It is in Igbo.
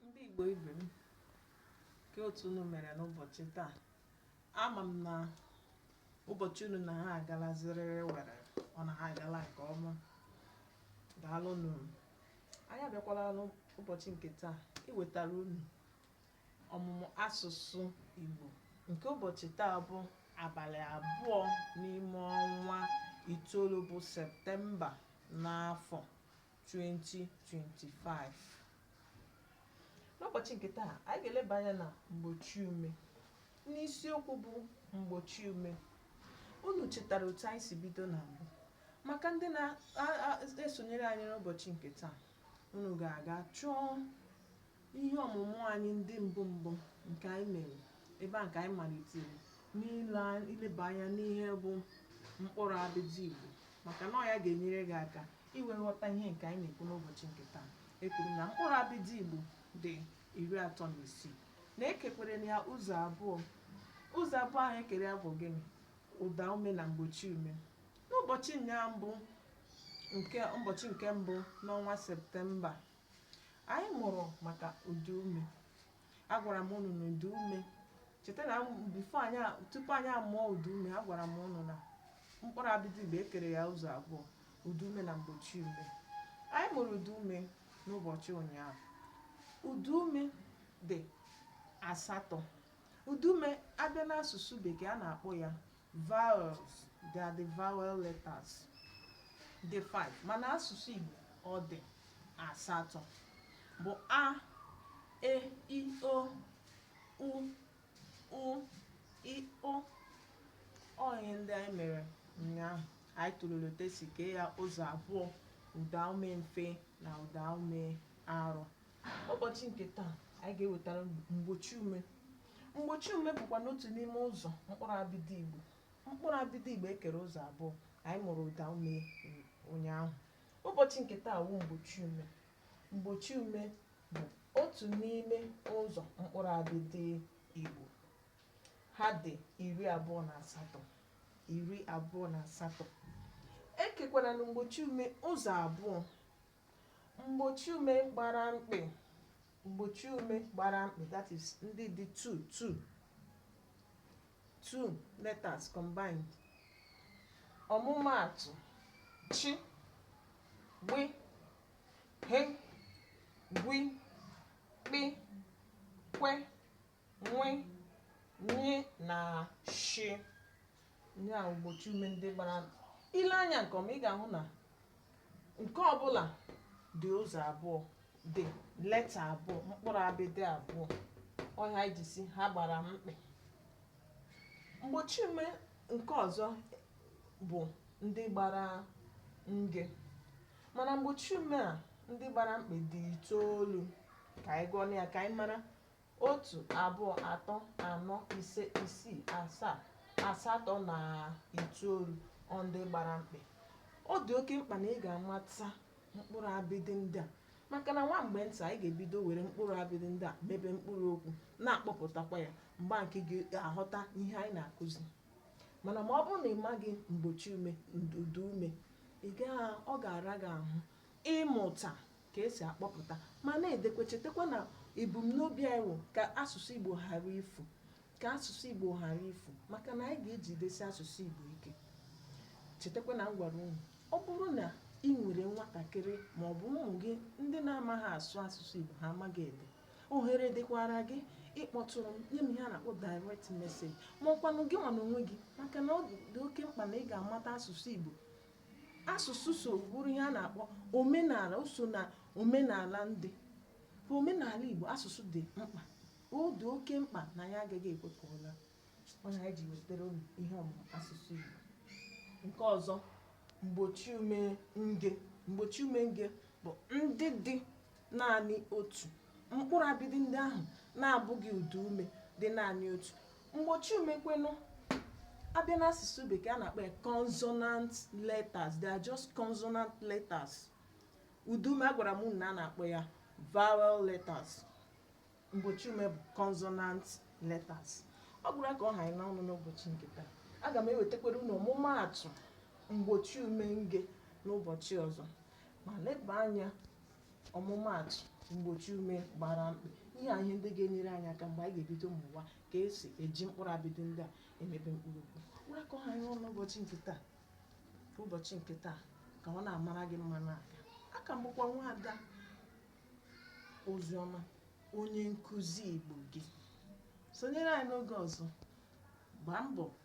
Ndị Igbo ibe m, ke otu unu mere n'ụbọchị taa? Ama m na ụbọchị unu na ha agala ziriri were, ọ na ha agala nke ọma. Daalụ nụ. Anyị abịakwala n'ụbọchị nke taa iwetara unu ọmụmụ asụsụ Igbo nke ụbọchị taa bụ abalị abụọ n'ime ọnwa itoolu bụ Septemba n'afọ 2025 n'ụbọchị nke taa anyị ga-eleba anya na mgbochi ume n'isiokwu bụ mgbochi ume unu chetara otu anyị si bido na mbụ maka ndị na-esonyere anyị n'ụbọchị nke taa unu ga-aga chọọ Ihe ọmụmụ anyị ndị mbụ mbụ nke anyị mere ebe a ka anyị malitere n'ile a- ileba anya n'ihe bụ mkpụrụ abịdị Igbo maka na ọ ya ga-enyere gị aka i wee ghọta ihe nke anyị na-ekwu n'ụbọchị nke taa ekwuru na mkpụrụ abịdị Igbo dị iri atọ na isii na ekekwerenụ ya ụzọ abụọ ụzọ abụọ ahụ ekere ya bụ gịnị ụda ume na mgbochi ume n'ụbọchị nyaa bụ nke ụbọchị nke mbụ n'ọnwa septemba Anyị mụrụ maka ụda ume. Agwara m unu na ụda ume cheta na before anyị tupu anyị amụọ ụda ume agwara m unu na mkpụrụ abịdị Igbo ekere ya ụzọ abụọ ụda ume na mgbochi ume. Anyị mụrụ ụda ume n'ụbọchị ụnyaahụ. Ụda ume dị asatọ. Ụda ume abịa n'asụsụ bekee a na-akpọ ya Vowels, they are the vowel letters. Dị five mana asụsụ Igbo ọ dị asatọ bụ a e i o u ụ ị ọ ọ ihe ndị anyị mere ụnyaahụ anyị tụlere otu esi kee ya ụzọ abụọ ụdaume mfe na ụdaume arọ N'ụbọchị nke taa, anyị ga-ewetara unu mgbochi ume. Mgbochi ume bụkwanụ otu n'ime ụzọ mkpụrụ abịdị Igbo. Mkpụrụ abịdị Igbo ekere ụzọ abụọ. Anyị mụrụ ụda ume ụnyaahụ. Ụbọchị nke taa wụ mgbochi ume. Mgbochi ume bụ otu n'ime ụzọ mkpụrụ abịdị Igbo. Ha dị iri abụọ na asatọ. Iri abụọ na asatọ. Ekekwaranụ mgbochi ume ụzọ abụọ. Mgbochi ume gbara mkpị. Mgbochi ume gbara mkpị that is ndị dị two two two letters combined. Ọmụmaatụ chị gbị ghe gwi kpị kwe nwe nye na shi nye a mgbochi ume ndị gbara i lee anya nke ọma ị ga-ahụ na nke ọbụla dị ụzọ abụọ dị leta abụọ mkpụrụ abịdị abụọ ọ ya e ji sị na ha gbara mkpị mgbochi ume nke ọzọ bụ ndị gbara nge mana mgbochi ume a ndị gbara mkpị dị itoolu ka anyị gụọ ya ka anyị mara Otu, abụọ, atọ, anọ, ise, isii, asaa, asatọ na itoolu ọ ndị gbara mkpị. Ọ dị oke mkpa na ị ga-amata mkpụrụ abịdị ndị a maka na nwa mgbe nta anyị ga-ebido were mkpụrụ abịdị ndị a mebe mkpụrụ okwu na-akpọpụtakwa ya mgbe nke gị ga-aghọta ihe anyị na-akụzi mana ma ọ bụrụ na ị maghị mgbochi ume ụda ume ị gaa ọ ga-ara gị ahụ ịmụta ka e si akpọpụta ma na-edekwa chetakwa na ebumnobi anyị wụ ka asụsụ Igbo ghara ifu ka asụsụ Igbo ghara ifu maka na anyị ga-ejidesi asụsụ Igbo ike chetakwa na m gwara unu ọ bụrụ na ị nwere nwatakịrị ma ọ bụ ụmụ gị ndị na-amaghị asụ asụsụ Igbo ha amaghị ede ohere dịkwara gị ịkpọtụrụ m nye m ihe a na-akpọ direct message ma ọkwanụ gị nwa n'onwe gị maka na ọ dị oke mkpa na ị ga-amata asụsụ Igbo asụsụ so bụrụ ihe a na-akpọ omenala o so na omenala ndị ka omenala Igbo asụsụ dị mkpa ọ dị oke mkpa na anyị agaghị ekwe ka ọ laa ọ ya anyị ji wetara unu ihe ọmụmụ asụsụ Igbo nke ọzọ mgbochi ume nge mgbochi ume nge bụ ndị dị naanị otu mkpụrụ abịdị ndị ahụ na-abụghị ụda ume dị naanị otu mgbochi ume kwanụ a bịa n'asụsụ bekee a na-akpọ ya consonant letters they are just consonant letters ụda ume agwara m unu na a na-akpọ ya vowel letters mgbochi ume bụ consonant letters ọ bụrụ ka ọ ha anyị n'ọnụ n'ụbọchị nke taa aga m ewetakwara unu ọmụmaatụ mgbochi ume nge n'ụbọchị ọzọ ma leba anya ọmụmaatụ mgbochi ume gbara mkpị ihe a ihe ndị ga-enyere anyị aka mgbe anyị ga-ebido mụwa ka e si eji mkpụrụ abịdị ndị a emebe mkpụrụ okwu ọ wụrụ ka ọ ha anyị ọnụ ụbọchị nke taa ụbọchị nke taa ka ụwa na-amara gị mma na-aga a ka m bụkwa nwaada Oziọma onye nkụzi Igbo gị sonyere anyị n'oge ọzọ gbaa mbọ